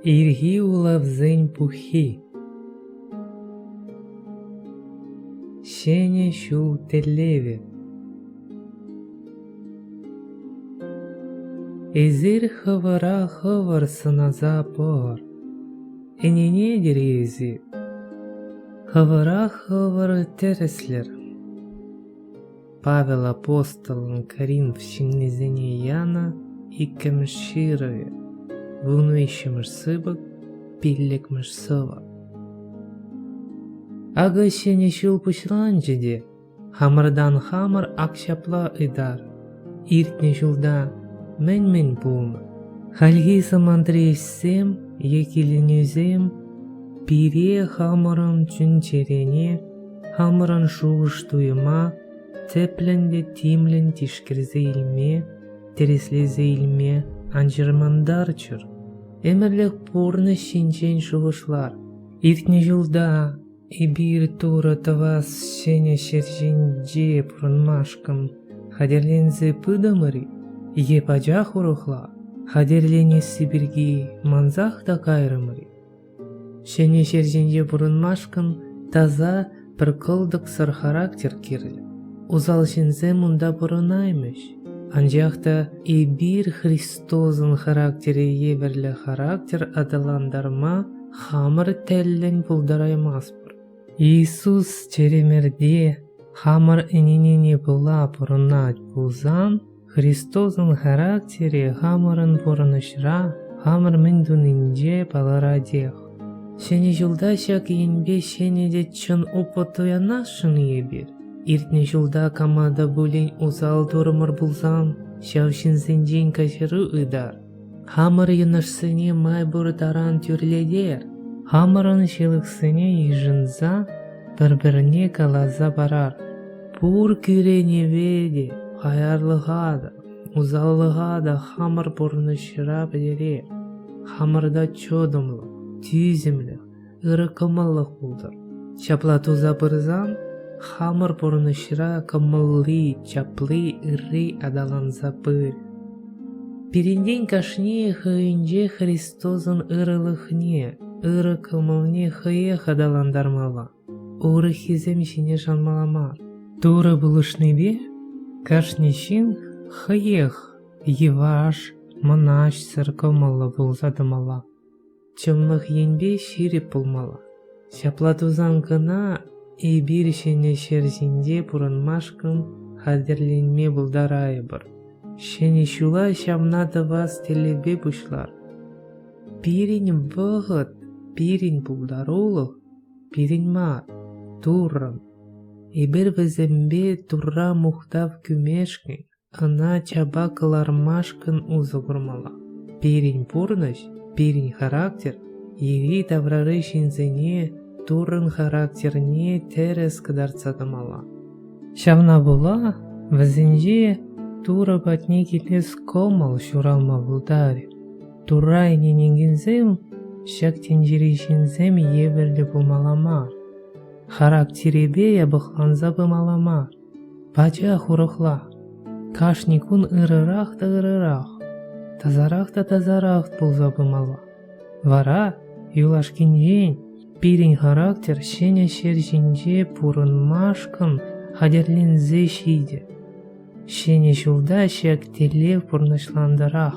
Ирхи улавсен пуххи Ҫӗнӗ ҫул тӗллевӗ Эсир хӑвӑра хӑвӑр сӑнаса пӑхӑр. Ӗненетӗр-и эсир? Хӑвӑра хӑвӑр тӗрӗслӗр. Павел апостолӑн Коринф ҫыннисене янӑ иккӗмӗш ҫырӑвӗ, вун виҫҫӗмӗш сыпӑк, пиллӗкмӗш сӑвӑ. Акӑ ҫӗнӗ ҫул пуҫланчӗ те хамӑртан хамӑр ак ҫапла ытар. Иртнӗ ҫулта мӗн-мӗн пулнӑ? Хальхи самантри ӗҫсем е киленӳсем пире хамӑрӑн чун-чӗрене Хамӑрӑн шухӑш-туйӑма тӗплӗн те тимлӗн тишкерсе илме, тӗрӗслесе илме ан чӑрмантарчӑр. Ӗмӗрлӗх пурнӑҫ ҫинчен шухӑшлар. Иртнӗ ҫулта эпир Турӑ тӑвас ҫӗнӗ ҫӗр ҫинче пурӑнмашкӑн хатӗрленсе пытӑмӑр-и е пачах урӑхла хатӗрленесси пирки мансах та кайрӑмӑр-и? Ҫӗнӗ ҫӗр ҫинче пурӑнмашкӑн таса, пӗр кӑлтӑксӑр характер кирлӗ. Усал ҫынсем унта пурӑнаймӗҫ. Анчах та эпир Христосӑн характере евӗрлӗ характер аталантарма хамӑр тӗллӗн пултараймастпӑр. Иисус чӗремерте хамӑр ӗненене пула пурӑнать пулсан, Христосӑн характерӗ хамӑрӑн пурӑнӑҫра хамӑр мӗн тунинче палӑратех. Ҫӗнӗ ҫулта ҫак енпе ҫӗнӗ те чӑн опыт туянасшӑн-и эпир? Иртнӗ ҫулта кама та пулин усал турӑмӑр пулсан, ҫав ҫынсенчен каҫару ытар. Хамӑр йӑнӑшсене май пур таран тӳрлетер, хамӑрӑн ҫылӑхсене йышӑнса пӗр-пӗрне каласа парар. Пур кӳренӗве те, хаярлӑха та, усаллӑха та хамӑр пурнӑҫра пӗтерер. Хамӑрта чӑтӑмлӑх, тӳсӗмлӗх, Ырӑ кӑмӑллӑх пултӑр. Ҫапла туса пырсан хамӑр пурнӑҫра кӑмӑлли, чапли, ырри аталанса пырӗ. Пирӗнтен кашни хӑйӗнче Христосӑн ырӑлӑхне, ырӑ кӑмӑлне хӑех аталантармалла, урӑххисем ҫине шанмалла мар. Турӑ пулӑшнипе кашни ҫын хӑех йӑваш, мӑнаҫсӑр кӑмӑллӑ пулса тӑмалла. Чӑнлӑх енпе ҫирӗп пулмалла. Ҫапла тусан кӑна эпир ҫӗнӗ ҫӗр ҫинче пурӑнмашкӑн хатӗрленме пултарайӑпӑр. Ҫӗнӗ ҫула ҫавна тӑвас тӗллевпе пуҫлар. Пирӗн вӑхӑт, пирӗн пултарулӑх, пирӗн мар, Туррӑн. Эпир вӗсемпе Турра мухтав кӳмешкӗн Ӑна чапа кӑлармашкӑн усӑ курмалла. Пирӗн пурнӑҫ, пирӗн характер йӗри-таврари ҫынсене Туррӑн характерне тӗрӗс кӑтартса тӑмалла. Ҫавна пула вӗсенче Турӑ патне килес кӑмӑл ҫуралма пултарӗ. Турра ӗненекенсем ҫак тӗнчери ҫынсем евӗрлӗ пулмалла мар, характерӗпе япӑхланса пымалла мар. Пачах урӑхла, кашни кун ырӑрах та ырӑрах, тасарах та тасарах пулса пымалла. Вара юлашкинчен пирӗн характер ҫӗнӗ ҫӗр ҫинче пурӑнмашкӑн хатӗрленсе ҫитӗ. Ҫӗнӗ ҫулта ҫак тӗллев пурнӑҫлантӑрах.